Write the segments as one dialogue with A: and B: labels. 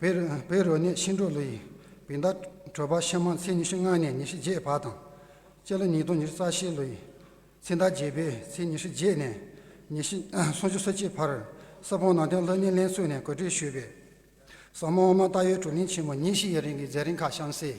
A: བའི་རོལ་ནས་ཤིང་འབྲུག་ལོ་ཡི་བི་ཟླ་དྲོས་པ་ཕྱི་མ་ཚེས་ཉི་ཤུ་ལྔ་ནས་ཉི་ཤུ་བརྒྱད་བར་དང། སྤྱི་ལོ་ཉིས་སྟོང་ཉེར་རྩ་ཤེས་ལོ་ཡི་ཚེས་ཟླ་བརྒྱད་པའི་ཚེས་ཉི་ཤུ་བརྒྱད་ནས་ཉི་ཤུ་སུམ་ཅུ་སོ་གཅིག་བར་ས་བོན་ནང་བསྟན་ལྷོད་མེད་ལེན་ཚུལ་ནས་གོ་སྒྲིག་ཞུས་པའི་ཟབ་མོ་དབུ་མ་ལྟ་བའི་དྲུང་རིང་ཆེན་མོ་ཉིན་བཞི་ཡི་རིང་གི་མཛད་རིམ་ཁག་གཤམ་གསལ།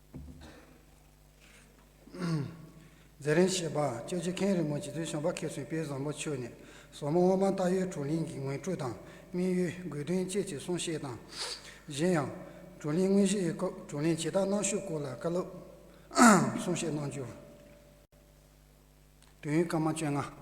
B: རྫས་རིན་ཞེས་པ་བཅོས་བྱེད་མཁན་རི་མོ་རྗེ་བཙུན་ཞང་པ་མཁས་བཙུན་དཔལ་བཟང་པོ་ཆོས་ནི་ཟོག་མོ་སྔོ་སྤང་སྟག་ཡོས་བགྲོ་གླེང་གི་ངོས་སྤྲོད་དང་སྨིན་ཡུལ་དགོས་དོན་བཅས་ཀྱི་གསུང་བཤད་དང། གཞན་ཡང། བགྲོ་གླེང་དངོས་གཞིའི་སྐབས་བགྲོ་གླེང་བྱེད་སྟངས་གནང་ཤུགས་སྐོར་ལ་བཀའ་སློབ། གསུང་བཤད་གནང་རྒྱུ། དུས་ཡུན་སྐར་མ་བཅོ་ལྔ།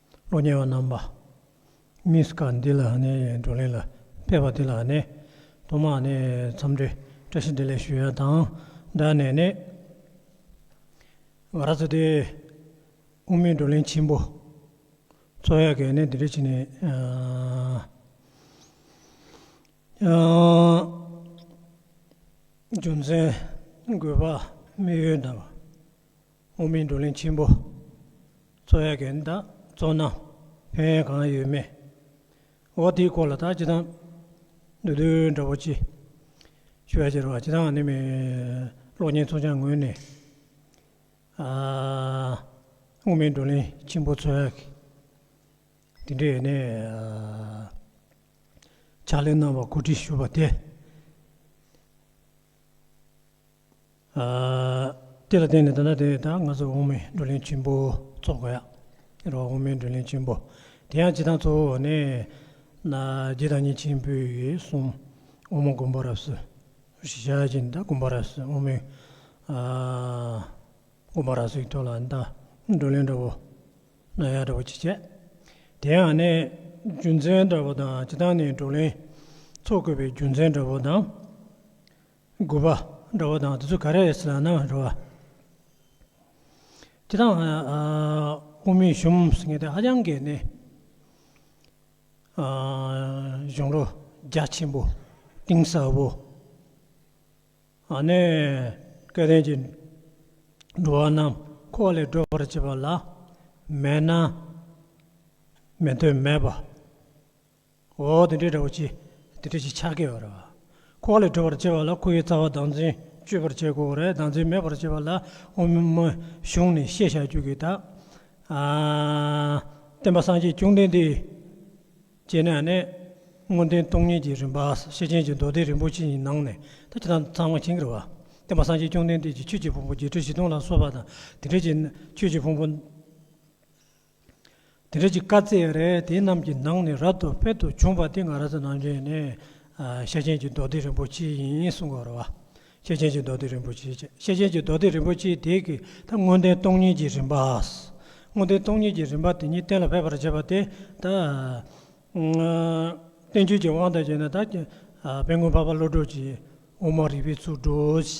C: གློག་བརྙན་བ་རྣམ་པ། མི་སྐ་འདི་ལ་ནི་བགྲོ་གླེང་ལ་ཕེབས་པ་འདི་ལ་ནི་ཐོག་མར་ནི་འཚམས་འདྲི་བཀྲ་ཤིས་བདེ་ལེགས་ཞུ་ཡ་དང་སྦྲགས་ནས་ནི། ང་ར་ཚོ་དེ་དབུ་མའི་བགྲོ་གླེང་ཆེན་པོ་ཚོགས་ཡ་གས་ནི་འདི་འདྲ་བྱེད་ནས་རྒྱུ་མཚན་དགོས་པ་དམིགས་ཡུལ་དང། དབུ་མའི་བགྲོ་གླེང་ཆེན་པོ་ཚོགས་ཡ་གན་དང་ཚོགས་ན་ཕན་ཡོན་གང་ཡོད་མེད་འོག་དེའི་སྐོར་ལ་ད་ཅི་ཐང་འདུག་དོན་འདྲ་བོ་ཅི་ཞུ་ཡ་ཅི་ར་བ་ཅི་ཐང་ནི་མེད་གློག་བརྙན་ཚོགས་ཆང་ངོས་ནས་དབུ་མའི་བགྲོ་གླེང་ཆེན་པོ་ཚོགས་ཡ་གན་དེ་འདྲའི་ཡ་ནས་ཕྱག་ལས་གནང་བར་གོ་སྒྲིག་ཞུ་བ་དེ། དེ་ལ་བརྟེན་ནས་ད་ལྟ་དེ་ད་ང་ཚོ་དབུ་མའི་བགྲོ་གླེང་ཆེན་པོ་ཚོགས་དགོས་ཡ་རོགས་དབུ་མའི་བགྲོ་གླེང་ཆེན་པོ་དེ་ཡང་སྤྱི་དང་གཙོ་བོ་ནས་རྗེ་བདག་ཉིད་ཆེན་པོས་གསུངས་དབུ་མ་མགོན་པོ་རབས་སུ་བཞག་ཅིང་ད་མགོན་པོ་རབས་སུ་དབུ་མའི་མགོན་པོ་རབས་སུ་ཡི་ཐོག་ལ་ད་བགྲོ་གླེང་འདྲ་བོ་གནང་ཡ་འདྲ་བོ་ཅི་བྱས་དེ་ཡང་ནས་རྒྱུ་མཚན་འདྲ་བོ་དང་སྤྱི་དང་ནས་བགྲོ་གླེང་ཚོགས་དགོས་པའི་རྒྱུ་མཚན་འདྲ་བོ་དང། དགོས་པ་འདྲ་བ་དང་དེ་ཚོ་ག་རེ་རེད་ཟེར་ན་ནང་འདྲ་བ། དེ་དང་དབུ་མའི་གཞུང་ཟེར་མཁན་དེ་ཧ་ཅང་གི་ནི་གཞུང་རོ་རྒྱ་ཆེན་པོ་གཏིང་ཟབ་པོ་ནས་སྐལ་ལྡན་གྱི་འགྲོ་བ་རྣམས་འཁོར་བ་ལས་སྒྲོལ་བར་བྱེད་པ་ལ་མེད་ན་མི་འདོད་མེད་པ། འོ་དེ་འདྲའི་སྒྲ་བོ་ཅི། དེ་འདྲ་ཞིག་ཆགས་སྐྱེ་བ་རེད། ཁོ་བ་ལས་གྲོལ་བར་བྱེད་པ་ལ་ཁོ་བོའི་རྩ་བ་བདག་འཛིན་གཅོད་པར་བྱེད་དགོས་རེད་བདག་འཛིན་མེད་པར་བྱེད་པ་ལ་དབུ་མའི་གཞུང་ནས་བཤད་བཞག་རྒྱུ་གི་ད། བསྟན་པ་སངས་རྒྱས་བཅོམ་ལྡན་འདས། ཅེས་ནས་ནི། སྔོན་བསྟན་སྟོང་ཉིད་ཀྱི་རིམ་པ་ཤེར་ཕྱིན་གྱི་མདོ་སྡེ་རིན་པོ་ཆེ་གཉིས་ནང་ནས་ད་ཇི་ལྟར་ཚང་བ་ཇི་འགལ་བ། བསྟན་པ་སངས་རྒྱས་བཅོམ་ལྡན་འདས་ཀྱིས་ཆོས་ཀྱི་ཕུང་པོ་བརྒྱད་ཁྲི་བཞི་སྟོང་ལ་སོགས་པ་དང་དེ་འབྲེལ་གྱི་ཆོས་ཀྱི་ཕུང་པོ། དེ་རིགས་ཀྱི་བཀའ་བསྩལ་རས་དེ་རྣམས་ཀྱི་ནང་ནས་རབ་ཏུ་དཔལ་དུ་བྱུང་བ་དེ་ང་ར་ས་ནང་ཆེན་ནས་ཤེར་ཕྱིན་གྱི་མདོ་སྡེ་རིན་པོ་ཆེ་ཡིན་གསུང་བར་བ། ཤེར་ཕྱིན་གྱི་མདོ་སྡེ་རིན་པོ་ཆེ་བཅས་ཤེར་ཕྱིན་གྱི་མདོ་སྡེ་རིན་པོ་ཆེའི་དེ་གའི་ད་དངོས་བསྟན་སྟོང་ཉིད་ཀྱི་རིམ་པ། དངོས་བསྟན་སྟོང་ཉིད་ཀྱི་རིམ་པ་དེ་ཉིད་གཏན་ལ་ཕེབས་པར་བྱེད་པ་དེ་ད། བསྟན་བཅོས་ཀྱི་དབང་དང་བཅས་ན་ད། དཔལ་མགོན་འཕགས་པ་བློ་གྲོས་ཀྱིས་དབུ་མ་རིག་པའི་ཚུལ་བགྲོས།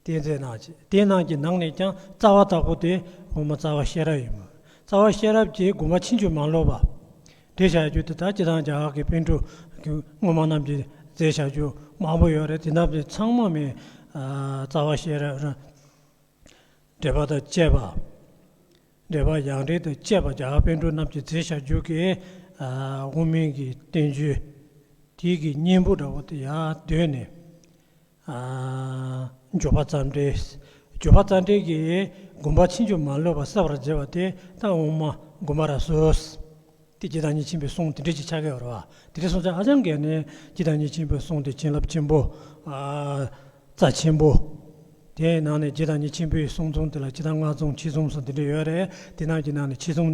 C: དེའི་རྫས་རྣམས་ཀྱི་དེ་རྣམས་ཀྱི་ནང་ནས་ཀྱང་རྩ་བ་དག་པོ་སྟེ་གོང་མ་རྩ་བ་ཤེས་རབ་ཡིན་མོད་རྩ་བ་ཤེས་རབ་ཀྱི་སྒོ་མ་ཕྱིན་ཅི་མ་ལོག་པ། འདྲེས་བྱ་རྒྱུ་དེ་དག་སྤྱི་དང་རྒྱ་གར་གྱི་དཔེ་འགྲོས་ཀྱི་སྔོན་མ་རྣམས་ཀྱི་རྫས་བྱ་རྒྱུ་མང་པོ་ཡོད་རེད་དེ་རྣམས་ཀྱི་ཚང་མ་མེད། རྩ་བ་ཤེས་རབ་རང་འབྲེལ་པ་དང་བཅས་པ། འབྲེལ་པ་ཡང་འབྲེལ་དང་བཅས་པ་རྒྱ་གར་དཔེ་འགྲོས་རྣམས་ཀྱི་རྫས་བྱ་རྒྱུ་གི་དབུ་མིང་གི་བསྟན་བཅོས་དེའི་གི་སྙིང་པོ་འདྲ་བོ་དེ་ཡང་གདོད་ནས། འབྱོར་པ་རྩ་འགྲེལ། འབྱོར་པ་རྩ་འགྲེལ་གྱིས་བསྒོམ་པ་ཕྱིན་ཆོད་མ་ལུས་པ་བསལ་བར་བྱེད་པ་སྟེ་རྟགས་འོག་མ་བསྒོམ་པ་ར་བཟོད། དེ་སྤྱི་དང་གཉིས་ཕྱིན་པའི་གསུང་དེ་འགྲེལ་གྱི་ཆ་གས་བར་བ་དེ་འགྲེལ་གསུང་ཆ་ཧ་ཅང་གས་ནས་སྤྱི་དང་གཉིས་ཕྱིན་པའི་གསུང་དེ་བྱིན་རླབས་ཆེན་པོ། རྩ་ཆེན་པོ། དེ་ཡི་ནང་ནས་སྤྱི་དང་གཉིས་ཕྱིན་པའི་གསུང་རྩོམ་དེ་ལ་སྤྱི་དང་ལྔ་རྩོམ་ཕྱི་རྩོམ་སོགས་འདི་འདྲ་ཡོད་རེད་དེ་རྣམས་ཀྱི་ནང་ནས་ཕྱི་རྩོམ།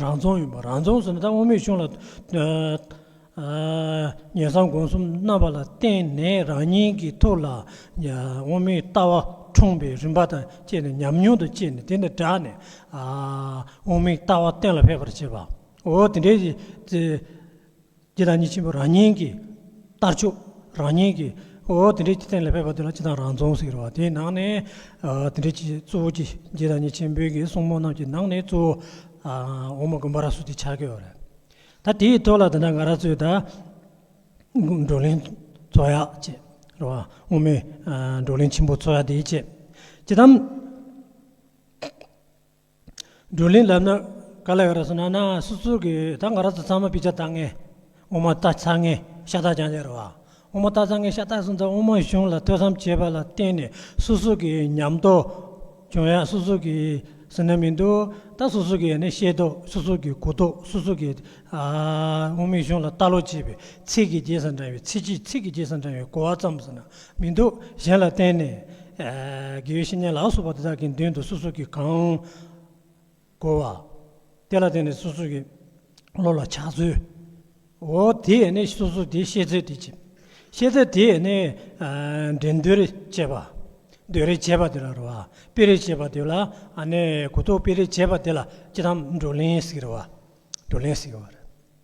C: རང་རྫོང་ཡིན་པ་རང་རྫོང་ཟེར་ན་ད་དབང་མེད་ཆུང་ལ། ཉེ་བསམ་དགོངས་གསུམ་རྣམ་པ་ལ་བརྟེན་ནས་རང་ཉིད་ཀྱི་ཐུགས་ལ་དབང་མེད་ལྟ་བ་འཁྲུངས་པའི་རིམ་པ་དང་བཅས་ནས་ཉམས་མྱོང་དང་བཅས་ནས་དེ་ནི་བསྒྲགས་ནས་དབང་མེད་ལྟ་བ་གཏན་ལ་ཕེབས་པར་བྱེད་པའོ། དེ་འདྲའི། འདི་དང་གཉིས་ཆེན་པོ་རང་ཉིད་ཀྱི་ལྟར་ཆོས་རང་ཉིད་ཀྱི་འོ་དེ་འདྲའི་སྟེང་ལ་ཕེབས་པ་དེ་ལ་སྤྱི་དང་རང་རྫོང་ཟེར་བ་དེའི་ནང་ནས་དེ་འདྲའི་སྤྱི་གཙོ་བོ་ཀྱི་འདི་དང་གཉིས་ཆེན་པོའི་གི་གསུང་མོ་རྣམས་ཀྱི་ནང་ནས་གཙོ་བོ་འོ་མ་དགོན་པ་ར་སུ་དེ་ཆགས་ཀྱི་ཡོད་རེད་ད་དེའི་ཐོག་ལ་ད་ནངས་ར་ཚོས་ད་བགྲོ་གླེང་འཚོ་ཡག་ཅེས་རེད་བ་སྔོན་མའི་བགྲོ་གླེང་ཆེན་པོ་འཚོ་ཡག་དེའི་ཆེད་ཀྱི་དམ། བགྲོ་གླེང་ལབ་ན་ག་ལ་ཡོད་རེད་ཟེར་ན་ན་སུ་ཚུར་གི་ད་ང་ར་ཚ་ཚང་མ་པི་ཅག་ལྟ་ངེས་ངོ་མ་ལྟ་ཚ་ངེས་ཤ་སྟག་ཀྱང་ལེ་རེད་བ་ངོ་མ་ལྟ་ཚ་ངེས་ཤ་སྟག་གསུངས་ཙང་དབུ་མ་གཞུང་ལ་ལྟོས་བསམ་བྱེད་པ་ལ་བརྟེན་ནས་སུ་སུ་གི་ཉམས་རྟོགས་བྱུང་ཡ་སུ་སུ་གི་ཟིན་ན་མི་འདུག་ད་སུ་སུ་གི་ནི་ཤེས་རྟོགས་སུ་སུ་གི་གོ་རྟོགས་སུ་སུ་གི་དབུ་མའི་གཞུང་ལ་ལྟ་ལོ་ཅེས་པའི་ཚིག་གི་རྗེས་སུ་འབྲངས་བའི་ཚིག་གིས་ཚིག་གི་རྗེས་སུ་འབྲངས་བའི་གོ་བ་བརྩམས་ཟེར་ན་མི་འདུག་གཞན་ལ་བརྟེན་ནས། དགེ་བའི་བཤེས་གཉེན་ལག་སོགས་པ་དེ་དག་གི་མདུན་དུ་སོ་སོ་གིས་གང། གོ་བ། དེ་ལ་བརྟེན་ནས་སོ་སོ་གིས། བློ་ལ་ཕྱག་མཛོད། འོ། དེ་ཡས་ནས་སོ་སོ་དེའི་ཤེས་ཚད་དེ་བྱེད། ཤེས་ཚད་དེ་ཡས་ནས། འགྲན་འདོད་རེ་བྱེད་པ། འདོད་རེ་བྱེད་པ་དེ་ལ་རོལ་བ། དཔེ་རེ་བྱེད་པ་དེ་ལ། གོ་རྟོགས་དཔེ་རེ་བྱེད་པ་དེ་ལ་ཅི་དང། བགྲོ་གླེང་ཟིག་རོལ་བ། བགྲོ་གླེང་ཟིག་རོལ་བ།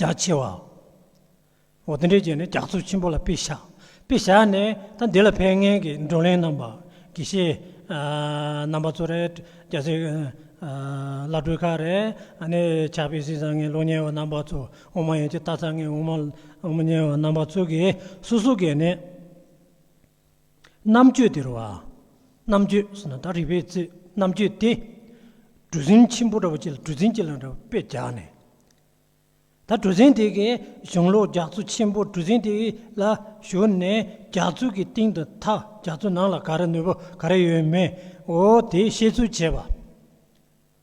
C: རྒྱ་ཆེ་བ། འོ་དེ་འདྲའི་རྗེས་ནས་རྒྱ་མཚོ་ཆེན་པོ་ལ་དཔེ་བཞག་དཔེ་བཞག་ནས་ད་འདི་ལ་ཕན་ངེས་ཀྱི་བགྲོ་གླེང་གནང་བ་དགེ་བཤེས་རྣམ་པ་ཚོ་རེད་རྒྱ་བཟའི་བླ་སྤྲུལ་ཁག་རེད་ནས་ཕྱག་དཔེ་སྲིད་བཟང་ངན་ལོ་ཉེ་བ་རྣམ་པ་ཚོ་དབུ་མ་ཡན་གྱི་རྟ་ཚག་ངན་དབུ་མ་ཉེ་བ་རྣམ་པ་ཚོ་གིས་སོ་སོ་གས་ནས། རྣམ་དཔྱོད་དེ་རུ་བ། རྣམ་དཔྱོད་ཟེར་ན་ད་རི་བའི་རྩེ་རྣམ་དཔྱོད་སྟེ། གྲུ་གཟིངས་ཆེན་པོ་འདྲ་བོ་ཅིག་ལ་གྲུ་གཟིངས་ཅིག་ལ་འདྲ་བོ་དཔེ་རྒྱག་ནས། ད་གྲུ་གཟིངས་དེ་གའི་གཞུང་ལུགས་རྒྱ་མཚོ་ཆེན་པོ་གྲུ་གཟིངས་དེ་ལ་བཞུར་ནས་རྒྱ་མཚོ་གི་གཏིང་དུ་ཐག་རྒྱ་མཚོ་ནང་ལ་ག་རེ་ནུས་པ་ག་རེ་ཡོད་མེད་འོ་དེ་བཤད་ཚུལ་བྱས་པ།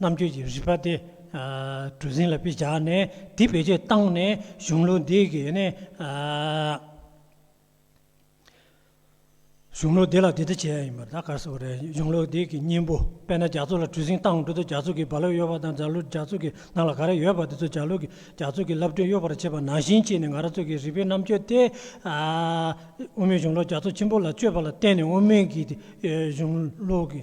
C: རྣམ་དཔྱོད་ཀྱི་རིག་པ་དེ་གྲུ་གཟིངས་ལ་སྤུས་བྱས་ནས་དེ་བེད་སྤྱོད་བཏང་ནས་གཞུང་ལུགས་འདི་གི་ནི་གཞུང་ལུགས་འདི་ལ་དེ་ལྟ་བྱེད་ཡ་ཡིན་པར་ད་གར་བཟོ་བ་རེད་གཞུང་ལུགས་འདི་གི་སྙིང་པོ་དཔེར་ན་རྒྱ་མཚོ་ལ་གྲུ་གཟིངས་བཏང་གྲུ་དང་རྒྱ་མཚོ་གི་རྦ་རླབས་གཡོ་བ་དང་རྫ་ལུ་རྒྱ་མཚོ་གི་ནང་ལ་ག་རེ་ཡོད་པ་དེ་ཚོ་རྒྱ་ལུ་རྒྱ་མཚོ་གི་རླབས་སྒྲོན་གཡོ་བར་བྱེད་པ་ནང་བཞིན་བྱས་ནས་ང་རང་ཚོ་གི་རིག་པའི་རྣམ་དཔྱོད་དེ་དབུ་མའི་གཞུང་ལུགས་རྒྱ་མཚོ་ཆེན་པོ་ལ་དཔྱོད་པ་ལ་བརྟེན་ནས་དབུ་མའི་གཞུང་ལུགས་ཀྱི་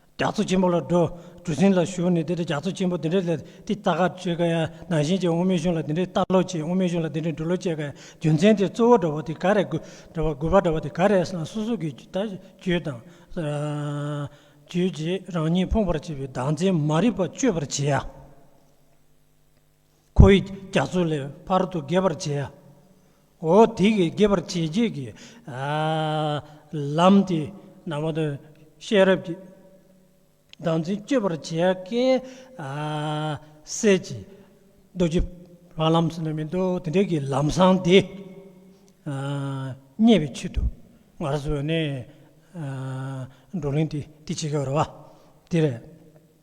C: རྒྱ་མཚོ་ཆེན་པོ་ལ་འགྲོ། གྲུ་གཟིངས་ལ་ཞུགས་ནས་དེ་ལྟར་རྒྱ་མཚོ་ཆེན་པོ་འདི་འདྲའི་ལས་འདི་ལྟ་ག་བྱེད་ཀ་ཡ་ན་གཞན་གྱི་དབུ་མའི་གཞུང་ལ་འདི་འདྲའི་ལྟ་ལོ་ཅི་དབུ་མའི་གཞུང་ལ་འདི་འདྲའི་འདྲི་ལོ་བཅས་ཀ་ཡ་རྒྱུ་མཚན་དེ་གཙོ་བོ་འདྲ་བོ་དེ་ག་རེ་དགོས་འདྲ་བ་དགོས་པ་འདྲ་བ་དེ་ག་རེ་ཡང་སོ་སོ་གི་ལྟ་སྤྱོད་དང། རྗོད་བྱེད་རང་ཉིད་ཕོངས་པར་བྱེད་པའི་བདག་འཛིན་མ་རིག་པ་གཅོད་པར་བྱེད། ཁོ་ཡིས་རྒྱ་མཚོ་ལས་བར་དུ་རྒལ་བར་བྱས། འོ་དེ་གའི་རྒལ་བར་བྱེད་བྱེད་ཀྱི་ལམ་དེ་ནང་བ་དང་ཤེས་རབ་ཀྱི་ཟླ་མཚན་གཅོད་པར་བྱེད་ཀའི་གསེར་གྱི་རྡོ་རྗེ་བ་ལམ་ཟེར་ན་མི་འདུག་དེ་འདྲ་གྱི་ལམ་བཟང་དེ་རྙེད་པའི་ཆེད་དུ་ང་ར་སོ་ནས་བགྲོ་གླེང་དེ་བྱེད་ཀྱི་ཡོད་རེད་བ། དེ་རེད།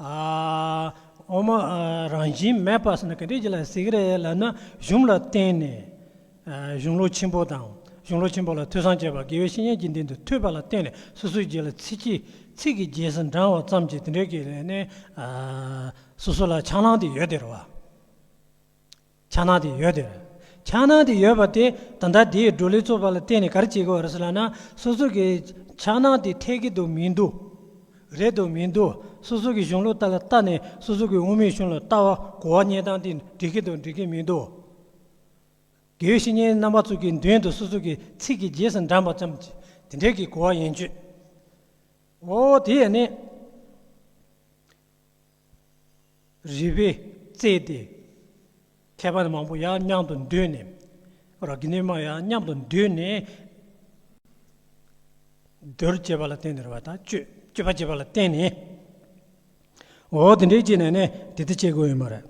C: འོ་མ་རང་བཞིན་མེད་པ་སོགས་ནི་ག་འདྲའི་རྒྱུ་ལ་ཟེར་གི་རེད་ལབ་ན་གཞུང་ལ་བརྟེན་ནས་གཞུང་ལུགས་ཆེན་པོ་དང་གཞུང་ལུགས་ཆེན་པོ་ལ་ཐོས་བསམ་བྱས་པ་དགེ་བའི་བཤེས་གཉེན་གྱི་མདུན་དུ་ཐོས་པ་ལ་བརྟེན་ནས་སོ་སོའི་རྗེས་ལ་ཚིག་གིས་ཚིག་གི་རྗེས་སུ་འབྲང་བ་ཙམ་གྱིས་དེ་འདྲའི་གི་ལས་ནི་སོ་སོ་ལ་ཆང་ལངས་ཏེ་ཡོད་དེ་རེད་བ། ཆགས་སྣང་དེ་ཡོད་དོ། ཆགས་སྣང་དེ་ཡོད་པ་དེ་ད་ལྟ་དེའི་སྒྲོ་ལེགས་ཚོགས་པ་ལ་བརྟེན་ནས་ག་རེ་བྱེད་དགོས་རེད་ལབ་ན་སོ་སོ་གི་ཆགས་སྣང་དེ་འཐད་ཀི་འདུག་མི་འདུག་རེད་འདུག་མི་འདུག་སོ་སོ་གི་གཞུང་ལུགས་ལྟར་ལ་བལྟ་ནས་སོ་སོ་གི་དབུ་མའི་གཞུང་ལ་ལྟ་བ་གོ་བ་རྙེད་སྟངས་དེ་འགྲིག་གི་འདུག་འགྲིག་གི་མི་འདུག་དགེ་བའི་བཤེས་གཉེན་རྣམ་པ་ཚོ་གི་མདུན་དུ་སོ་སོ་གི་ཚིག་གི་རྗེས་སུ་འབྲངས་པ་ཙམ་གྱིས་དེ་འདྲའི་གི་གོ་བ་ཡིན་ཆོས་འོ་དེ་ཡན་ནི། རིལ་བས་གཙེས་ཏེ། ཁྱད་པར་མང་པོ་ཡང་མཉམ་དུ་འདུས་ནས། ར་གི་སྣོད་མང་ཡང་མཉམ་དུ་འདུས་ནས། རྡོར་བཅས་པ་ལ་བརྟེན་ནས་ར་བ་དང་བཅོས་པ་བྱེད་པ་ལ་བརྟེན་ནས། འོ་དེ་འདྲའི་བྱས་ནས་ནི་དེ་ལྟར་བྱེད་དགོས་ཡོད་མ་རེད།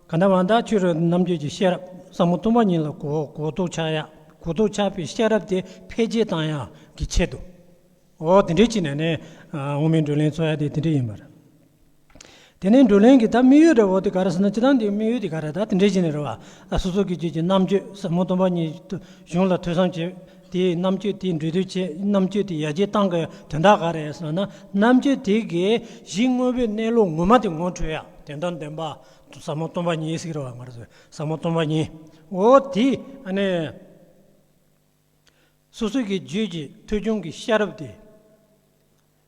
C: གང་དག་མ་དག་ཆོས་རབ་རྣམ་བརྒྱད་ཀྱི་ཤེས་རབ་ཟབ་མོ་སྟོང་པ་ཉིད་ལ་གོ་བཟློག་ཆགས་ཡ་གོ་བཟློག་ཆགས་པའི་ཤེས་རབ་དེ་འཕེལ་རྒྱས་བཏང་ཡ་གི་ཆེད་དུ་འོ་དེ་འདྲའི་བྱས་ནས་ནི་དབང་མེད་འགྲོ་ལན་འཚོལ་ཡ་དེ་དེ་འདྲའི་ཡིན་པར། དེ་ནས་འགྲོ་ལན་གྱི་ད་མིག་ཡོད་འདྲ་བོ་དེ་ག་རེ་ཟེར་ན་སྤྱི་དང་དེའི་དམིགས་ཡུལ་དེ་ག་རེ་ད་དེ་འདྲའི་བྱས་ནས་རེ་བ་སོ་སོ་གི་རྗེས་ཀྱི་རྣམ་དཔྱོད་ཟབ་མོ་སྟོང་པ་ཉིད་དུ་གཞུང་ལ་ཐོས་བསམ་བྱེད་དེས་རྣམ་དཔྱོད་དེའི་འགྲོས་དོན་བྱེད་རྣམ་དཔྱོད་དེ་ཡར་རྒྱས་གཏང་གི་དོན་དག་ག་རེད་ཟེར་ན་རྣམ་དཔྱོད་དེ་གའི་གཞི་དངོས་པོའི་གནས་ལུགས་ངོ་མ་དེ་ངོ་འཕྲོད་ཡ་དེ་དང་ལྡན་པ་ཟབ་མོ་སྟོང་པ་ཉིད་ཟིག་རེད་བ་ང་རོ་ཟེར་ཟབ་མོ་སྟོང་པ་ཉིད་འོ་དེ་ཨ་ནི་སོ་སོའི་གི་རྗོད་ཀྱི་ཐོས་བྱུང་གི་ཤ་རུབ་དེ།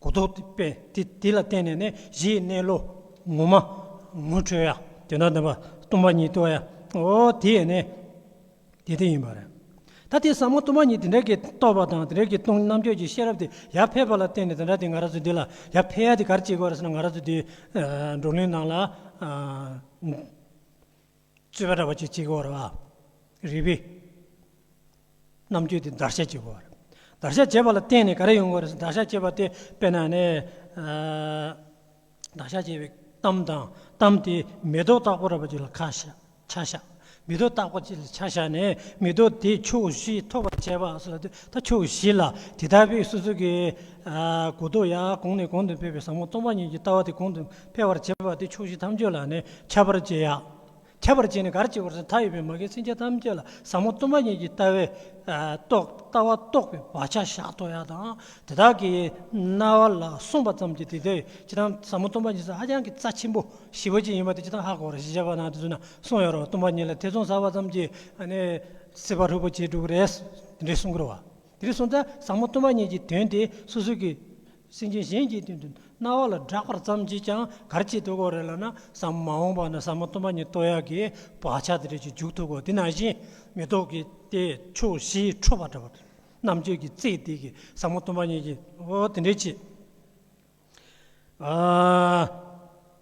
C: གོ་རྟོགས་པས་དེ་དེ་ལ་བརྟེན་ནས་ནི་གཞིའི་གནས་བློ། ངོ་མ། ངོ་འཕྲོད་ཡ། དེ་དག་འདི་སྟོང་པ་ཉིད་རྟོགས་ཡའོ། དེས་ནི། དེ་དེ་ཡིན་པར་རིག། ད་དེ་ཟབ་མོ་སྟོང་པ་ཉིད་དེ་འདྲ་གི་རྟོགས་པ་དང་དེ་འདྲ་གི་སྟོང་རྣམ་གཅོད་ཀྱི་ཤེས་རབ་དེ་ཡར་འཕེལ་བ་ལ་བརྟེན་ནས་དེ་འདྲ་དེ་ང་ར་སོ་དེ་ལ་ཡར་འཕེལ་ཡ་དེ་གར་སྐྱེས་དགོས་ར་སོ་ན་ང་ར་སོ་དེའི་བགྲོ་གླེང་ནང་ལ། རྩོད་པ་འདྲ་བ་ཅིག་བྱེད་དགོས་བར། རིགས་པས་རྣམ་དཔྱོད་དེ་བརྡར་ཤ་བྱེད་དགོས་བར། བརྡར་ཤ་བྱེད་པ་ལ་བརྟེན་ནས་ག་རེ་ཡོང་དགོས་རེད་བརྡར་ཤ་བྱེད་པ་དེ་དཔེར་ན་ནི། བརྡར་ཤ་བྱས་པའི་གཏམ་དང་གཏམ་དེ་མེ་ཏོག་བཏགས་པོ་ར་བ་ཅིག་ལ་ཁ་ཤ་ཆ་བཞག་མེ་ཏོག་བཏགས་པོ་ཅིག་ལ་ཆ་བཞག་ནས་མེ་ཏོག་དེ་ཕྱོགས་བཞི་ཐོགས་པར་བྱས་པ་སོགས་དེ་ལྟར་ཕྱོགས་བཞི་ལ་དེ་ལྟར་བས་སོ་སོ་གའི་གོ་རྟོགས་ཡང་གོང་ནས་གོང་དུ་འཕེལ་བས་བཟང་མོ་སྟོང་པ་ཉིད་ཀྱི་ལྟ་བ་དེ་གོང་དུ་འཕེལ་བར་བྱེད་པ་དེ་ཕྱོགས་བཞི་ཐམས་ཅད་ལ་ནི་ཁྱབ་པར་བྱེད། ཁྱབ་པར་བྱེད་ནི་གར་བྱེད་པར་མཐའ་ཡས་པའི་མ་རྒན་སེམས་ཅན་ཐམས་ཅད་ལ་ཟབ་མོ་གཏུམ་པ་ཉིད་ཀྱི་ལྟ་བའི་ལྟ་བ་རྟོགས་པའི་བག་ཆགས་ཞག་ཐོག་ཡག་དང་དེ་དག་གི་རྣ་བ་ལ་གསུངས་པ་ཙམ་གྱིས་དེ་དག་གི་དང་ཟབ་མོ་གཏུམ་པ་ཉིད་ཧ་ཅང་གི་རྩ་ཆེན་པོ་ཞི་བ་ཅན་ཡིན་པ་དེ་དང་ཧ་གོ་ར་ཞེས་བྱ་བ་ན་དེ་ཚུལ་ན་གསུངས་ཡོད་རོ་གཏུམ་པ་ཉིད་ལ་ཐེ་ཚོམ་ཟ་བ་ཙམ་གྱིས་ནི་སྲིད་པ་ལྷུག་པོ་ཆེ་དྲུག་རེད་དེ་འདྲའི་གསུང་གི་རོ། དེ་ལས་གསུངས་ཏེ་ཟབ་མོ་གཏུམ་པ་ཉིད་ཀྱི་དོན་དེ་སོ་སོའི་གི་སེམས་ཅན་གཞན་གྱི་དོན་དུ་རྣ་བ་ལ་བསྒྲགས་པར་བརྩམས་ཀྱིས་ཀྱང་གར་གྱིས་བསྟོད་གོ་རེ་ལ་ན་ས་མ་འོངས་པ་ན་ས་མ་སྟོན་པ་ཉིད་བསྟོད་ཡག་གི་བག་ཆགས་དེ་རེས་ཀྱི་འཇུག་ཐུབ་གོ་དེ་ན་བཞིན་མི་ལྡོག་གི་དེ་ཆོས་བཞི་འཕྲོ་བ་འདྲ་བ་དང། རྣམ་དཔྱོད་ཀྱི་རྩེ་གཏད་ཀྱི་ས་མ་སྟོན་པ་ཉིད་ཀྱིས་འོ་དེ་འདྲའི་ཆེད།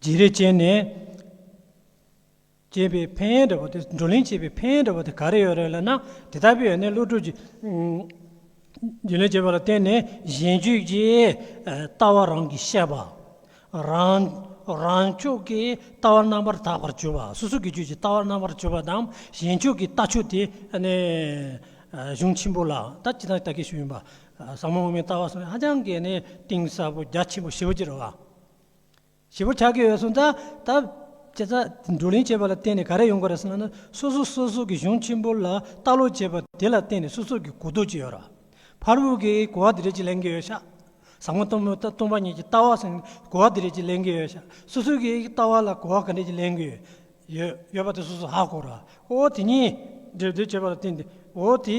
C: བརྗེ་རེས་བྱས་ནས། བྱས་པའི་ཕན་ཡོན་འདྲ་བོ་དེ་བགྲོ་གླེང་བྱས་པའི་ཕན་ཡོན་འདྲ་བོ་དེ་ག་རེ་ཡོད་རེད་ལབ་ན་དེ་དག་པོའི་ཡོན་ཏན་བློ་གྲོས་ཀྱིས། བརྗེ་ལེན་བྱས་པ་ལ་བརྟེན་ནས་གཞན་སྤྱོད་ཀྱི་ལྟ་བ་རང་གིས་བཤད་པ། རང། རང་ཕྱོགས་ཀྱི་ལྟ་བ་རྣམ་པར་དག་པར་བྱོས་པ་སོ་སོ་གི་སྤྱོད་ཀྱི་ལྟ་བ་རྣམ་པར་བྱོས་པ་དང་གཞན་ཕྱོགས་ཀྱི་ལྟ་ཕྱོགས་དེ་ནི། གཞུང་ཆེན་པོ་ལ་ད་ཅི་ཐག་ད་གེ་ཞུ་ཡིན་པ། ཟབ་མོ་དབུ་མའི་ལྟ་བ་སོགས་ནི་ཧ་ཅང་གི་ནི་གཏིང་ཟབ་པོ་རྒྱ་ཆེན་པོ་ཞེ་བོ་ཅི་རེད་བ། བྱེད་པོ་ཆགས་ཀྱི་ཡོད་སོང་ཙང། ད་བྱས་ཙང་བགྲོ་གླེང་བྱས་པ་ལ་བརྟེན་ནས་ག་རེ་ཡོང་གི་རེད་སོང་ན་སོ་སོ་སོ་སོ་གི་གཞུང་ཆེན་པོ་ལ་ལྟ་ཀློག་བྱས་པ་དེ་ལ་བརྟེན་ནས་སོ་སོ་གི་གོ་རྟོགས་ཅི་ཡོད་ར་བར་བོད་ཀྱི་གོ་བ་དེ་རེད་ཅེས་ལེན་གྱི་ཡོད་ཤག་བཟང་མོ་སྟོང་མོ་སྟོང་པ་ཉིད་ཀྱི་ལྟ་བ་སོང་གོ་བ་དེ་རེད་ཅེས་ལེན་གྱི་ཡོད་ཤག་སོ་སོ་གི་ལྟ་བ་ལ་གོ་བ་ག་འདྲ་ཅིག་ལེན་གྱི་ཡོད་ཡོད་པ་དེ་སོ་སོ་ཧ་གོ་ར་འོ་དེ་གཉིས་སྒྲིབ་སྡུད་བྱས་པ་ལ་བརྟེན་ཏེ་འོ་དེ།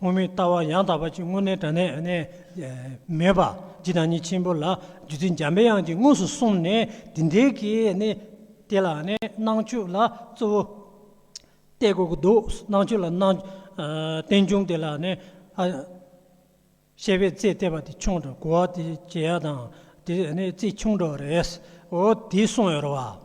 C: དབུ་མའི་ལྟ་བ་ཡང་དག་པ་ཅིག་དངོས་གནས་དྲ་གནས་ནས་མེད་པ་ཇི་ལྟར་ཉིད་ཆེན་པོ་ལ་རྒྱུ་མཚན་འཇམ་པའི་དབྱངས་ཀྱིས་དངོས་སུ་གསུངས་ནས་དེ་འདྲའི་གི་ནི་དེ་ལ་ནི་སྣང་ཆོས་ལ་གཙོ་བོ་ཏེ་དགོས་ཀྱི་འདུག་སྣང་ཆོས་ལ་སྣང། རྟེན་འབྱུང་དེ་ལ་ནི་ཨ། བཤད་པའི་རྩེ་གཏད་པ་དེ་ཆུང་དྲག་གོ་བ་དེ་བྱེད་ཡ་དང་དེ་ནི་རྩེ་ཆུང་དྲག་རེད། འོ་དེ་གསུངས་ཡོད་རེད་བ།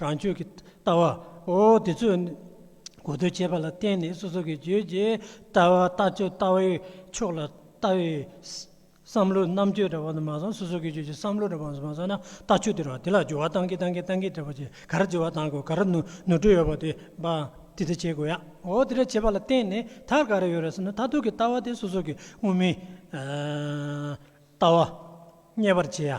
C: རང་ཆོས་ཀྱི་ལྟ་བ། འོ་དེ་ཚོས་ནི་གོ་ཐོས་བྱས་པ་ལ་བརྟེན་ནས་སོ་སོ་གི་བརྗོད་བྱའི་ལྟ་བ་ལྟ་སྤྱོད་ལྟ་བའི་ཕྱོགས་ལ་ལྟ་བའི་བསམ་བློའི་རྣམ་དཔྱོད་འདྲ་བ་དུ་མ་སོང་སོ་སོ་གི་བརྗོད་བྱའི་བསམ་བློ་འདྲ་བ་དུ་མ་སོང་ན་ལྟ་སྤྱོད་དེ་རང་དེ་ལ་སྦྱོར་བ་གཏང་གིན་གཏང་གིན་གཏང་གིན་བྲལ་བ་ཅི་ག་ར་བརྗེ་བ་གཏང་དགོས་ག་ར་ནུར་འགྲོ་ཡོད་པ་དེ་འབའ་དེ་འདྲ་བྱེད་དགོས་ཡ། འོ་དེ་འདྲ་བྱས་པ་ལ་བརྟེན་ནས་མཐར་ག་ར་ཡོད་རེད་ཟེར་ན་མཐར་ཐུག་གི་ལྟ་བ་དེ་སོ་སོ་གི་དངོས་མིན་ལྟ་བ་རྙེད་པར་བྱེད་ཡ།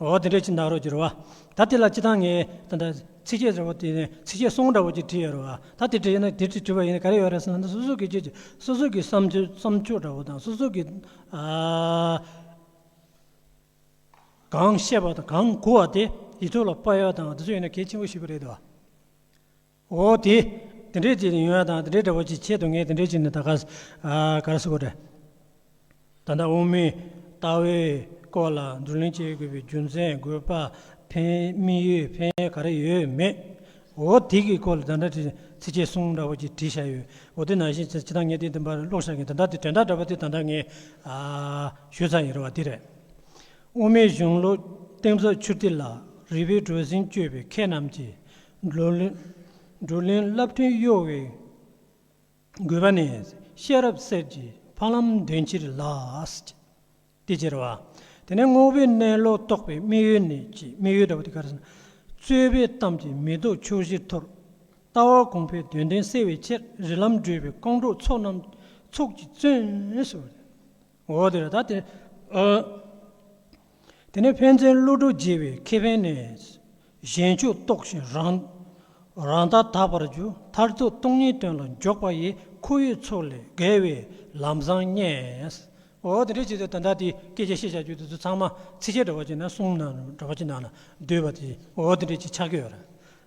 C: འོ་དེ་འདྲའི་ཅི་འདག་རོ་ཅི་རོ། ད་དེ་ལ་ཅི་དང་ངེས། ཚིགས་བཅད་འདྲ་བོ་དེ་ནི་ཚིགས་བཅད་གསུམ་འདྲ་བོ་ཅིག་བྲིས་ཡོད་རེད་བ། ད་དེ་བྲིས་ན་དེ་བྲིས་བྲིས་པ་ཡིན་ན་ག་རེ་ཡོད་རེད་ཟེར་ན་སོ་སོ་གི་ཆོས་སོ་སོ་གི་བསམ་བསམ་ཕྱོགས་འདྲ་བོ་དང་སོ་སོ་གི། གང་བཤད་པ་དང་གང་གོ་བ་དེ་ཡིད་ཚོར་ལ་དཔར་ཡོད་དང་དེ་ཚོ་ཡིན་ན་གལ་ཆེན་པོ་ཞིག་རེད་བ། འོ་དེ། དེ་འདྲའི་ཅིག་ཡོད་ན་དང་དེ་འདྲའི་འདྲ་བོ་ཅིག་ཆེད་དུ་ངས་དེ་འདྲའི་ཅིག་ནི་ད་ག་ཟེ་ག་རེ་ཟེ་གོ་དྲན། ད་ལྟ་དབུ་མའི་ལྟ་བའི་སྐོར་ལ་བགྲོ་གླེང་བྱེད་དགོས་པའི་རྒྱུ་མཚན་དགོས་པ་ཕན་མི་ཡོད་ཕན་ག་རེ་ཡོད་མེད། འོ་དེ་གི་སྐོར་ལ་ད་ལྟ་དྲི་ཚིག་ཆེ་གསུམ་འདྲ་བོ་ཅིག་བྲིས་བཞག་ཡོད་འོ་དེ་ནང་བཞིན་ཅི་ད་ངས་དེ་འདི་འབའ་རེ་ཀློག་བཞག་གིན་ད་ལྟ་དེ་དྲན་ཐག་འདྲ་བོ་དེ་ད་ལྟ་ངས་ཞུས་ཚར་ཡིན་རེད་བ་དེ་རེད། དབུ་མའི་གཞུང་ལུགས་གཏིང་ཟབ་ཆུ་གཏེར་ལ་རིགས་པའི་གྲུ་གཟིངས་གཅོད་པའི་མཁས་རྣམས་ཀྱིས་བགྲོ་གླེང་བསླབ་སྐྲུན་གཡོ་བའི་རྒུད་པ་ནས་ཤེས་རབ་གསེར་གྱི་ཕ་ལམ་འདོན་ཕྱིར་ལགས། དེ་ཅེར་བ། དེ་ནས་དངོས་པོའི་གནས་ལོག་རྟོག་པའི་དམིགས་ཡུལ་ནི་ཅི་དམིགས་ཡུལ་འདྲ་བ་དེ་གར་ཟིན། རྩོད་པའི་གཏམ་གྱིས་མི་ལྡོག་ཕྱོགས་བཞིར་འཐོར། ལྟ་བ་གོང་འཕེལ་དོན་ལྡན་གསལ་བའི་ཕྱིར་རི་ལམ་བགྲོད་པའི་རྐང་གྲོགས་ཚོགས་རྣམས་ཚོགས་ཀྱིས་བརྩོན། འོ་དེ་ལྟ་སྟེ། དེ་ནས་ཕན་ཚན་ཀླུ་སྒྲུབ་རྒྱལ་བའི་ཁེ་ཕན་ནས། གཞན་ཕྱོགས་རྟོགས་ཤིང་རང། རང་ལྟ་དག་པར་གྱུར་མཐར་ཐུག་སྟོང་ཉིད་དོན་ལ་འཇོག་པ་ཡི་ཁོར་ཡུག་ཚོགས་ལས་བརྒལ་བའི་ལམ་བཟང་རྙེད། འོ་དེ་འདྲའི་ཆེད་དུ་ད་ལྟ་དེའི་སྐད་ཆ་བཤད་བྱ་རྒྱུ་དེ་ཚོ་ཚང་མ་ཚིགས་བཅད་འདྲ་བ་ཅིག་ན་གསུམ་ན་འདྲ་བ་ཅིག་ནང་ལ་སྡུད་པ་དེ་འོ་དེ་འདྲའི་ཆེད་ཆགས་ཀྱི་ཡོད་རེད།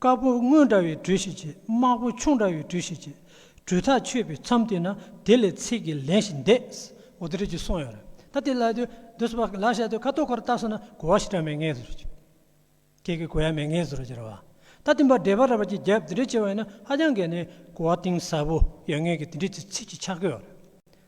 C: དཀར་པོ་སྔོན་འདྲ་བའི་འགྲོས་ཤིག་བྱེད་དམར་པོ་ཆུང་འདྲ་བའི་འགྲོས་ཤིག་བྱེད། འགྲོས་ཐག་ཆོད་པའི་མཚམས་དེ་ན་དེ་ལས་ཚིག་གི་ལན་ཞིག་འདེད། འོ་དེ་རེད་ཅེས་གསུངས་ཡོད་རེད། ད་དེ་ལ་དུས་འདི་སོ་པ་ལགས་བཤད་དུས་ཁ་ཐོར་ཁོར་བཏགས་སོང་ན་གོ་བ་ཞིག་གྲ་མེད་ངེས་སོ་རེད་ཅེས། ཁྱེད་ཀྱིས་གོ་ཡ་མེད་ངེས་སོ་རེད་ཅེས་རེད་བ། ད་དེ་འབའ་འབྲེལ་པ་ར་བ་ཅིག་བརྒྱབ་དེ་འདྲས་བྱས་བ་ཡིན་ན་ཧ་ཅང་གལ་ནས་གོ་བ་གཏིང་ཟབ་པོ་ཡོད་ངེས་ཀྱི་དེ་འདྲས་ཚིག་གི་ཆ་ཁོད་ཡོད་རེད།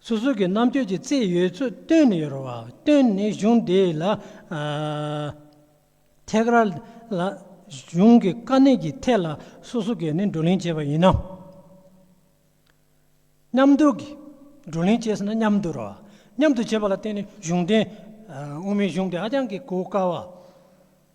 C: སོ་སོ་གི་རྣམ་དཔྱོད་ཀྱི་རྩལ་ཡོད་ཚུལ་སྟོན་ནས་ཡོད་རོགས་བ་སྟོན་ནས་གཞུང་འདི་ལ་ཐད་ཀར་ལ་གཞུང་གི་དཀའ་གནད་ཀྱི་ཐད་ལ་སོ་སོ་གས་ནས་བགྲོ་གླེང་བྱས་པ་ཡིན་ནམ། མཉམ་དུ་བགྲོ་གླེང་བྱས་ཟེར་ན་མཉམ་དུ་རོགས་བ་མཉམ་དུ་བྱས་པ་ལ་བརྟེན་ནས་གཞུང་དེ་དབུ་མའི་གཞུང་དེ་ཧ་ཅང་གི་གོ་དཀའ་བ།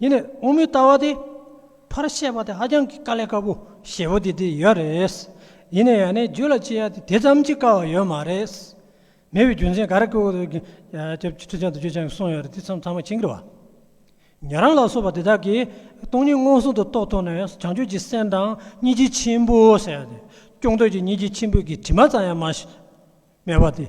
C: ཡིན་ནས་དབང་མོའི་ལྟ་བ་དེ་ཕར་བཤད་པ་དེ་ཧ་ཅང་གི་དཀའ་ལས་དཀའ་པོ་ཞེ་པོ་དེ་དེ་ཡོད་རེད། ཡིན་ནས་ཡང་ནས་རྒྱུད་ལ་བྱེད་ཡ་དེ་དེ་ཙམ་གྱི་དཀའ་བ་ཡོད་མ་རེད། མེད་པའི་རྒྱུ་མཚན་ག་རེ་ཀུ་ཀུ་ཀུ་ཀྱི་ཁྲི་བྱང་དུ་བརྗོད་བྱང་གི་གསུང་ཡོད་རེད་དེ་ཚང་མ་ཕྱི་འགྱུར་བ། ཉན་རང་ལ་སོགས་པ་དེ་དག་གིས་སྟོང་ཉིད་མངོན་སུམ་དུ་རྟོགས་ཐུབ་ནས་བྱང་ཆུབ་ཀྱི་སེམས་དང་གཉིས་ཀྱི་ཆེན་པོ་ཟེར་ཡ་དེ་སྐྱོང་འདོད་ཀྱི་གཉིས་ཀྱི་ཆེན་པོའི་གི་དྲི་མ་ཙམ་ཡང་མ་མེད་པ་དེ།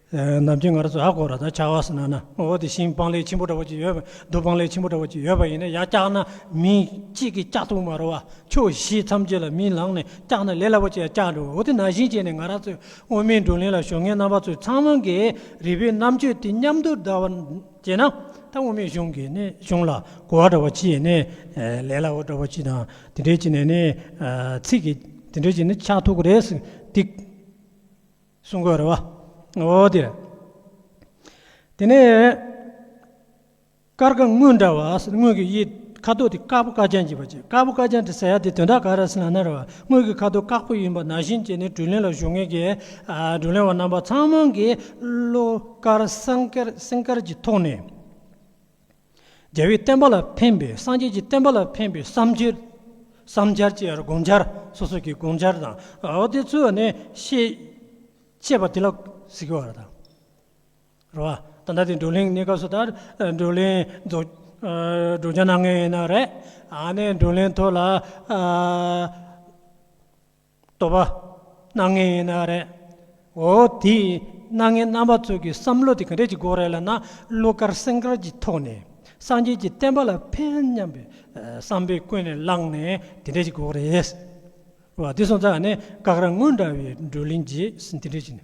C: ནམ་གྱི་ངར་སོ་ཨ་གོ་ར་དང་བྱ་བ་སི་ན་ན་འོ་དེ་ཤིང་སྤང་ལེགས་ཆེན་པོ་འདྲ་བོ་ཅིག་ཡོད་པ་རྡོ་སྤང་ལེགས་ཆེན་པོ་འདྲ་བོ་ཅིག་ཡོད་པ་ཡིན་ན་ཡང་བཀྱག་ན་མི་གཅིག་གིས་བཀྱག་ཐུབ་མ་རུང་བ་ཕྱོགས་བཞི་ཐམས་ཅད་ལ་མིའི་ལག་ནས་བཀྱག་ན་ལས་སླ་པོ་ཅིག་ཡང་བཀྱག་འགྲོ་འོ་དེ་ན་བཞིན་བྱས་ནས་ང་རང་ཚོས་དབུ་མའི་བགྲོ་གླེང་ལ་ཞུགས་མཁན་རྣམ་པ་ཚོས་ཚང་མ་གིས་རིགས་པའི་རྣམ་དཔྱོད་དེ་མཉམ་དུ་བསྡུར་བར་བྱས་ན་ད་དབུ་མའི་གཞུང་གིས་ནི་གཞུང་ལ་གོ་བ་འདྲ་བོ་ཅིག་ཡིན་ནས་ལས་སླ་བོ་འདྲ་བོ་ཅིག་དང་དེ་འདྲས་ཅིག་ནས་ནི་ཚིག་གིས་དེ་འདྲས་ཅིག་ནི་ཆགས་ཐུག་གི་རེད་ཟེར་དེ། གསུང་དགོས་རེད་བ། འོ་དེ། དེ་ནས། ཀར་ཀ་དངུལ་འདྲ་བ་དངུལ་གྱི་དབྱིབས་ཁ་དོག་དེ་དཀར་པོ་དཀར་ལྗང་གྱི་བ་ཅན་དཀར་པོ་དཀར་ལྗང་དེ་ཟེར་ཡ་དེ་དོན་དག་ག་རེ་ཟེར་ན་ནར་བ་དངུལ་གྱི་ཁ་དོག་དཀར་པོ་ཡིན་པ་ནང་བཞིན་བྱས་ནས་དྲུད་ལེན་ལ་གཞུག་ངེས་ཀྱི། དྲུད་ལེན་བ་རྣམ་པ་ཚང་མང་གིས་བློ་དཀར་སེམས་དཀར་གྱི་ཐོག་ནས། རྒྱལ་བའི་བསྟན་པ་ལ་ཕན་པའི་སངས་རྒྱས་ཀྱི་བསྟན་པ་ལ་ཕན་པའི་བསམ་འཆར་བསམ་འཆར་བཅས་དགོངས་འཆར་སོ་སོ་ཀྱི་དགོངས་འཆར་དང་དེ་ཚོ་ནི་ཤེས། ཅེས་པ་དེ་ལ་གཟིགས་པ་རེད། རེད་བ། ད་ལྟ་དེ་བགྲོ་གླེང་གནས་སྐབས་སུ་ལྟར་བགྲོ་གླེང་རྫོགས་བྱང་གནང་ངེས་ཡིན་ན་རེད། ཨ་ནི་བགྲོ་གླེང་ཐོག་ལ། བསྟོད་པ། སྣང་ངེ་ཡིན་ན་ཨ་རེད། འོ་དེ་སྣང་ངེ་རྣམ་པ་ཚོ་གི་བསམ་བློ་དེ་ག་འདྲས་ཀྱི་འགོ་རེད་ལ་ན་གླུ་གར་སེང་གར་གྱི་ཐོག་ནས་སངས་རྒྱས་ཀྱི་བསྟན་པ་ལ་ཕན་སྙམ་པའི་བསམ་པའི་ཀུན་ནས་བསླངས་ནས་དེ་འདྲས་ཀྱི་འགོ་རེད། འོ་དེ་སོང་ཙང་ནས་སྐག་ར་དངུལ་འདྲ་བའི་བགྲོ་གླིང་རྗེས་སུ་དེ་འདྲས་ཀྱི་ནས།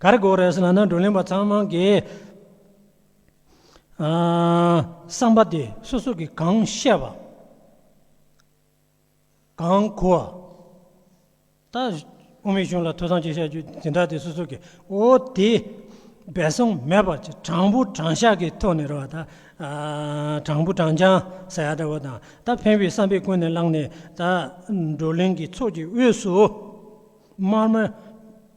C: ག་རེ་གོ་རེ་ཟེར་ན་ནི་བགྲོ་གླེང་པ་ཚང་མ་གི་བསམ་པ་དེ་སོ་སོ་གི་གང་བཤད་པ་གང་གོ་བ་ད་དབུ་མའི་གཞུང་ལ་ཐོས་བསམ་གྱིས་བཤད་རྒྱུ་དེ་འདྲ་དེ་སོ་སོ་གི་འོ་དེ་འབད་སོང་མེད་པར་གྱི་དྲང་པོ་དྲང་བཞག་གི་ཐོག་ནས་རེ་བ་ད་དྲང་པོ་དྲང་རྐྱང་ཟེར་ཡ་འདྲ་བོ་དང་ད་ཕན་བའི་བསམ་པའི་ཀུན་ནས་བསླངས་ནས་ད་བགྲོ་གླེང་གི་ཚོགས་ཀྱི་དབུས་སུ་དམར་མོ།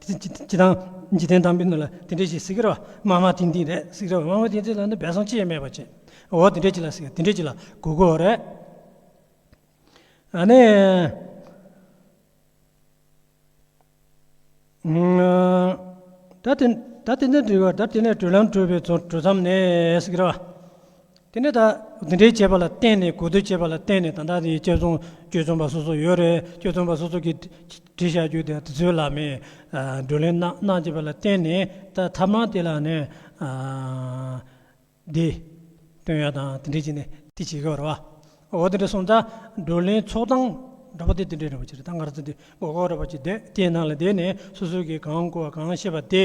C: སྤྱི་དང། འཇིག་རྟེན་དང་པོའི་ནི་ལ་དེ་འདྲའི་ཞིག་སྲིད་ཀྱི་ར་བ་མ་མ་དེ་འདི་རེད་སྲིད་ཀྱི་ར་བ་མ་མ་དེ་འདི་ལ་ནི་སྦས་གསང་ཅི་ཡང་མེད་པར་བྱས། འོ་དེ་འདྲའི་ཅིག་ལ་སྲིད་ཀྱི་དེ་འདྲའི་ཅིག་ལ་གུ་གུ་བོ་རེད། ནི། ད་དེ་ནས་དྲིལ་བ་ད་དེ་ནས་དྲིལ་ལམ་དྲིལ་བའི་གྲོལ་མཚམས་ནི་སྲིད་ཀྱི་ར་བ། དེ་ནས་ད་འདི་འདྲའི་བྱས་པ་ལ་བརྟེན་ནས་གོ་བསྡུར་བྱས་པ་ལ་བརྟེན་ནས་ད་ལྟ་དེ་གཅར་རྡུང་གཅོད་རྩོམ་པ་སོ་སོ་ཡོད་རེད་གཅོད་རྩོམ་པ་སོ་སོ་གིས་བྲིས་བཞག་རྒྱུ་དེ་དེ་ཚོའི་ལ་མེད་བགྲོ་གླེང་གནང་བྱས་པ་ལ་བརྟེན་ནས་ད་ཐབས་མང་དེ་ལ་ནི་འདི་སྟོན་ཡ་དང་དེ་འདྲས་བྱས་ནས་དེ་བྱེད་དགོས་རེད་བ། འོ་དེ་འདྲས་སོང་ད་བགྲོ་གླེང་ཚོགས་སྟངས་འདྲ་པོ་དེ་དེ་འདྲས་རེད་བ་བྱས་རེད་ད་ང་རང་ཚོ་འདི་མགོ་སྐོར་རེད་བ་བྱས་དེ་དེ་ནང་ལ་བསྡད་ནས་སོ་སོ་གིས་གང་གོ་བ་གང་ཤེས་པ་དེ།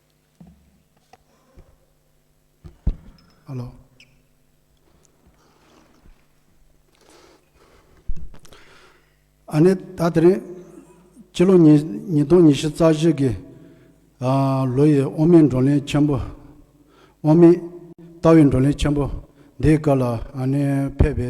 B: ཨ་ནེ། ད་དེ་རིང་སྤྱི་ལོ་ཉིས་སྟོང་ཉི་བཞི་རྩ་བཞི་གི་ལོ་ཡི་དབུ་མའི་བགྲོ་གླེང་ཆེན་པོ། དབུ་མའི་ལྟ་བའི་བགྲོ་གླེང་ཆེན་པོ་འདིའི་སྐབས་ལ་ཨ་ནེ་ཕེབས་པའི་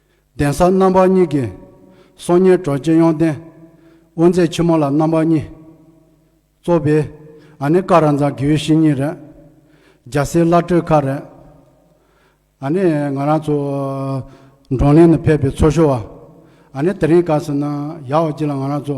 B: གདན་ས་རྣམ་པ་གཉིས་ཀྱི། སྲོག་ཉེར་གྲོལ་སྤྱི་ཡོངས་ལྡན། དབུ་མཛད་ཆེན་མོ་ལ་རྣམ་པ་གཉིས། གཙོ་བོས། ཨ་ནི་ཀ་ར་འཛམ་གིའི་བཤེས་གཉེན་རེད། རྒྱལ་སྲས་བླ་སྤྲུལ་ཁ་རེད། ཨ་ནི་ང་རང་ཚོ། འབྲོང་གླིང་ནས་ཕེབས་པའི་ཚོ་ཞོ་བ། ཨ་ནི་དེ་རིང་སྐབས་སུ་ན་ཡག་བ་གཅིག་ལ་ང་རང་ཚོ།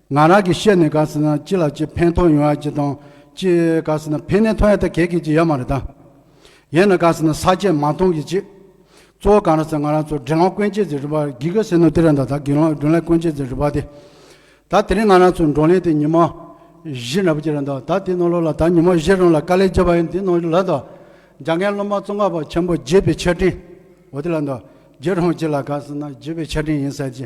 B: ང་རང་གིས་བཤད་ནས་དགའ་ཟེར་ན་ཅི་ལ་ཅི་ཕན་ཐོག་ཡོང་ཡ་ཅི་དང་ཅི་དགའ་ཟེར་ན་ཕན་ནས་ཐོག་ཡ་ད་གད་གས་ཅི་ཡ་མ་རེད་ད། ཡན་ན་དགའ་ཟེར་ན་ས་བཅད་མ་མཐོང་གི་ཅི། གཙོ་བོ་གང་ར་ཟེར་ང་རང་ཚོ་དགྲེ་ལོང་དཀོན་བཅས་ཟེར་རི་བ་གི་ག་ཟེར་ནོ་དེ་ར་ད་ད་དགེ་ལོང་དགྲོན་ལས་དཀོན་བཅས་ཟེར་རི་བ་དེ། ད་དེ་རིང་ང་རང་ཚོ་འགྲོ་ལེན་དེ་ཉི་མ་བཞི་ར་བ་ཅི་ར་ད་ད་དེ་ནོར་ལོ་ལ་ད་ཉི་མ་བཞི་རང་ལ་དཀའ་ལས་བརྒྱབ་པ་ཡིན་དེ་ནོར་ལ་ད། རྒྱ་རྒན་སློབ་མ་བཙོང་ཁ་པ་ཆེན་པོ་བརྗེད་པའི་ཆ་འཕྲིན་འོ་དེ་ལ་ད་བརྗེད་རོང་ཅི་ལ་དགའ་ཟེར་ན་བརྗེད་པའི་ཆ་འཕྲིན་ཡིན་ཟེར་ཅི་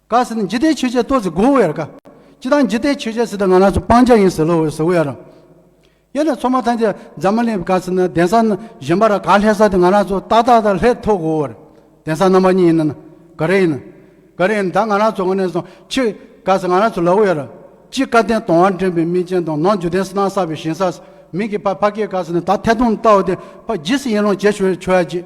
B: ག་ཟེར་ན་ཇི་ལྟའི་ཆོས་ཅན་ཏོ་ཟེར་གོ་འོ་ཡར་ག། ཅི་དང་ཇི་ལྟའི་ཆོས་ཅན་ཟེར་ད་ང་ནག་ཆུ་སྤང་བྱ་ཡིན་ཟེར་ལོ་འོ་ཟེར་འོ་ཡར་རམ། དབྱེ་ན་ཚོགས་མ་ཐམས་ཅད་འཛམ་མ་ལེན་ག་ཟེར་ན་གདན་ས་གཞན་པ་ར་ག་ལྷས་ས་དེ་ང་ནག་ཆུ་ཏག་ཏག་ཏག་ལྷས་ཐོག་གོ་འོ་རེད་གདན་ས་རྣམ་པ་གཉིས་ཡིན་ན་ན། ག་རེ་ཡིན་ན་ག་རེ་ཡིན་ད་ང་ནག་ཆུ་ང་ནས་སོང་ཕྱིར་ག་ཟེར་ང་ནག་ཆུ་ལ་འོ་ཡར་རམ། ཅི་བཀའ་བསྟན་དོང་བར་འདྲེན་པའི་སྨིན་ཅན་དང་ནང་འཇུ་དན་སྣང་བསགས་པའི་ཞིང་སར་མིང་གི་ཕ་ཕ་སྐད་ག་ཟེར་ན་ད་ཐད་དུང་ལྟ་འོ་དེ་ཕ་ཇི་སྲིད་ཡིན་རུང་བྱེད་ཆོས་ཡ་བྱེད།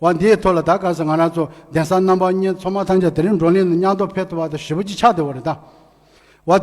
B: བ་འདིའི་ཐོག་ལ་ད་ག་ཟེ་ང་རང་ཚོ་གདན་ས་རྣམ་པ་གཉིས་ཚོགས་མ་ཐམས་ཅད་དེ་རིང་བགྲོ་གླེང་ནས་མཉམ་ཐོག་ཕེབས་ཐུབ་པ་དང་ཞི་བ་གཅིག་ཆགས་བདེ་བོ་རེད་ད་བ།